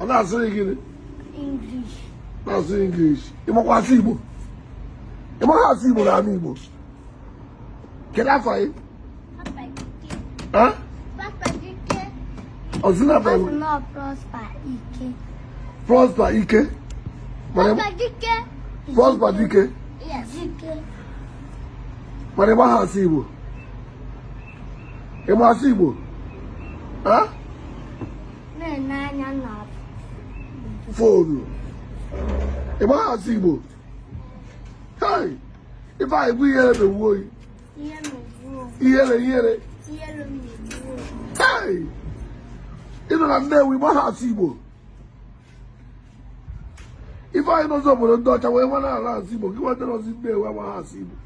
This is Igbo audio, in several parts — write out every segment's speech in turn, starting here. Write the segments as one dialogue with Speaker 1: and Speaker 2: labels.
Speaker 1: a na-asụrụ gị ị na-asụ
Speaker 2: English ịmakwa asụ Igbo ịmaghị asụ Igbo na anị Igbo kedu afa gị ọzụna Prosper Ike Prosper Dike mana ịmaghị asụ Igbo ịma asụ Igbo foonu ịmaghị asụ igbo Ifeanyị bụ ihere na-ewu oyi ihere ihere ịnọ na Nnewi ịmaghị asụ igbo Ifeanyị nọzị obodo ndị ọcha wee mala asụ igbo gị nwa nọzị Nnewi amaghị asụ igbo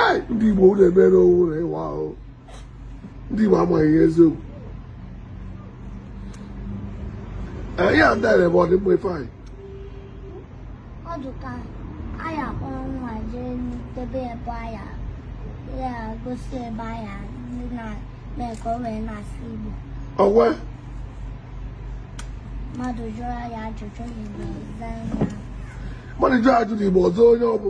Speaker 2: ee ndị igbo ụlọ emere owu ụlọ ịwa ahụ ndị igbo amaghị ihe eziokwu ihe a ndị bụ ọdịmma Ifeanyị ọ
Speaker 1: dụka anyị akpọrọ nwa jee debe ebe anya ya gosi ebe anya ndị na-eme ka o wee na-asụ Igbo ọwa mmadụ jụrụ ya ajụjụ n'Igbo zaa ya
Speaker 2: mmadụ jụọ ajụjụ n'igbo ọzọ onye ọ bụ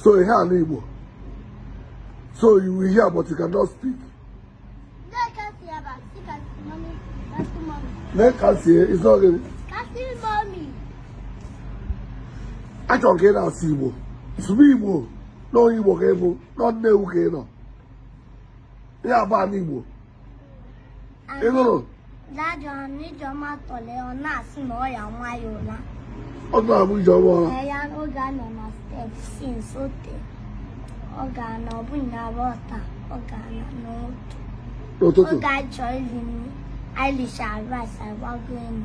Speaker 2: so you hear Igbo so you will hear but you cannot
Speaker 1: speak lee ka sie
Speaker 2: isi ogene achọrọ ka ị na-asụ Igbo sụba Igbo n'onye Igbo ka ị bụ na Nnewi ka ị nọ ebe a bụ anị Igbo ị nụrụ Daddy ọ
Speaker 1: na Ijeọma tọrọ ya, ọ na-asị na ọ ya-ama ya ụra. ọ tụrụ abụ
Speaker 2: ijeọma ụra Ee, ya na oge a nọ
Speaker 1: na step since o tee, ọ ga-ana ọ bụ nya bụ ọta, ọ ga-ana n'ụtụ. n'ụtụtụ Oge anyị chọrọ ili nri, anyị lichara rice, anyị gbago enu.